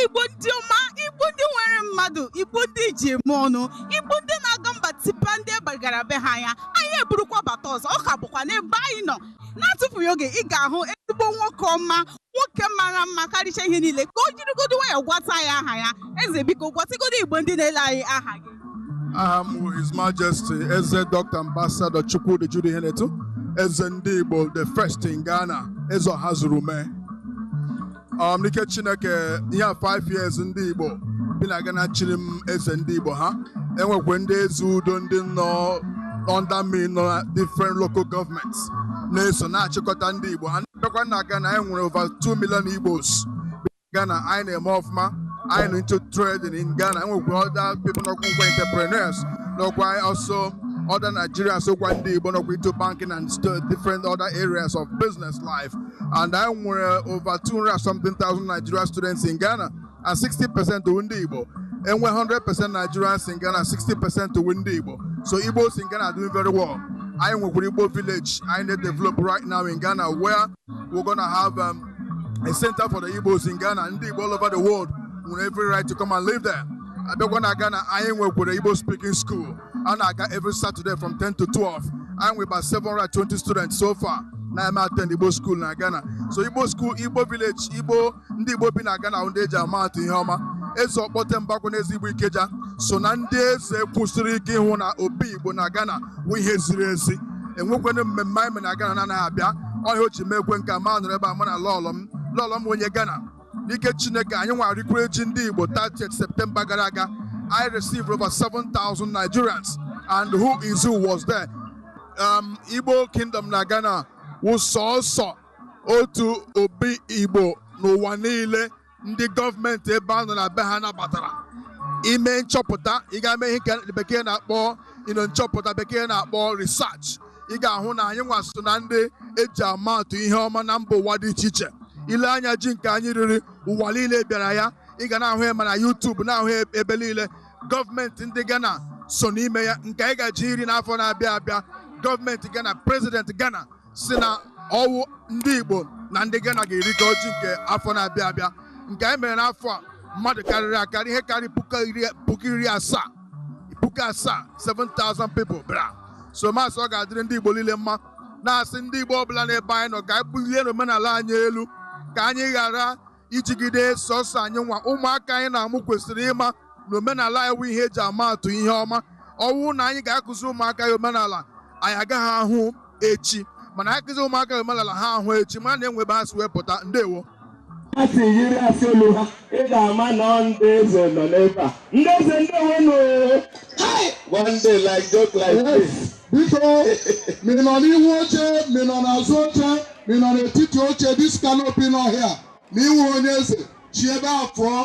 igbo ndị ọma igbo ndị nwere mmadụ igbo ndị ji eme ọnụ igbo ndị na-aga mba tipa ndị gbagara be ha anya anyị eburukwa bata ọzọ ọ ka bụkwa n'ebe anyị nọ na-atụfughị oge ị ga-ahụ ezigbo nwoke ọma nwoke mara mma karịcha ihe niile ka o jirigodo nwayọ gwata anyị aha ya eze biko gwatịgodo igbo ndị na-ele anyị aha gị aha m bụ his majesty eze dr ambassador chukwudi jude ihenetu eze ndị igbo the first in ghana eze ọhazurumee um, n'ike chineke ihe a 5 years ndị igbo bi na ghana chiri m eze ndị igbo ha enwekwe ndị eze udo ndị nọ under me nọ na different local governments na-eso na-achịkọta ndị Igbo a na-abịakwa na Ghana anyị nwere over 2 million Igbos bi na Ghana anyị na-eme ọfụma anyị nọ into trading in Ghana enwekwara other people nọkwa ngwa entrepreneurs nakwa also other Nigerians sokwa ndị Igbo nọkwa into banking and st- different other areas of business life and anyị nwere over 200 something thousand Nigerian students in Ghana and 60% wụ ndị Igbo e nwee 100% Nigerians in Ghana 60% wụ ndị Igbo so Igbos in Ghana are doing very well anyị nwekwara Igbo village anyị na-develop right now in Ghana where we're gonna have um, a center for the Igbos in Ghana ndị Igbo all over the world nwere every right to come and live there abịakwa na Ghana anyị nwekwara Igbo speaking school a na-aga every Saturday from 10 to 12 anyị nwere about 720 students so far na-eme attend Igbo school na Ghana so Igbo school Igbo village Igbo ndị Igbo bi na Ghana wụ ndị eji ama atụ ihe ọma eze Ọkpọtemba kwanụ eze Igbo Ikeja so na ndị eze kwụsịrị ike ịhụ na obi Igbo na Ghana wụ ihe ziri ezi enwekwana mmemme anyị mere na Ghana na ọ naghị abịa ọ wụ ihe o ji mekwe nke m anọrọ ebe a mụ na lọlọ m lọlọ m wụ onye Ghana n'ike Chineke anyị nwa rikwara ji ndị Igbo 30th September gara aga I received over 7,000 Nigerians and who is who was there um, Igbo Kingdom na Ghana wụ sọsọ otu obi igbo n'ụwa niile ndị gọọmenti ebe a nọ na be ha nabatara i mee nchọpụta ị gaa mee ihe nke bekee na-akpọ you know nchọpụta bekee na-akpọ research ị ga-ahụ na anyị nwa so na ndị eji ama atụ ihe ọma na mba ụwa dị iche iche i lee anya ji nke anyị riri ụwa niile bịara ya ị ga na-ahụ ya ma na YouTube na-ahụ ya ebe niile gọọmenti ndị Ghana so n'ime ya nke anyị ga-eje iri n'afọ na-abịa abịa gọọmenti Ghana prezidenti Ghana sị na ọ wụ ndị Igbo na ndị Ghana ga-erikọ ji nke afọ na-abịa abịa nke anyị mere n'afọ a mmadụ karịrị akarị ihe karịrị puku iri asaa puku asaa 7,000 people bịara so m asị ọ ga-adịrị ndị Igbo niile mma na-asị ndị Igbo ọbụla n'ebe anyị nọ ka anyị bulienụ omenala anyị elu ka anyị ghara ijigide sọsọ anyị nwa ụmụaka anyị na-amụ kwesịrị ịma na omenala ya wụ ihe eji ama atụ ihe ọma ọ wụ na anyị ga-akụzi ụmụaka ya omenala anyị agaghị ahụ echi mana akụzi ụmụaka ya omenala ha ahụ echi ma na e nwe ebe ha si wee pụta ndewo ha si yiri asị olu ha ị ga-ama na ọ ndị eze nọ n'ebe a ndị eze ndewo nụ one day like joke like this biko ma ị nọ n'ihu oche ma ị nọ n'azụ oche ma ị nọ n'etiti oche this canopy nọ here ma ị wụghị onye eze si ebe a pụọ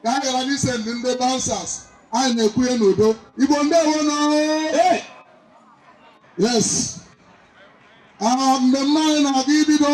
ka a ghara n'ise ndị ndị bouncers anyị na-ekwu ya n'udo igbo ndewo nụ yes aha mmemme anyị na-aga ibido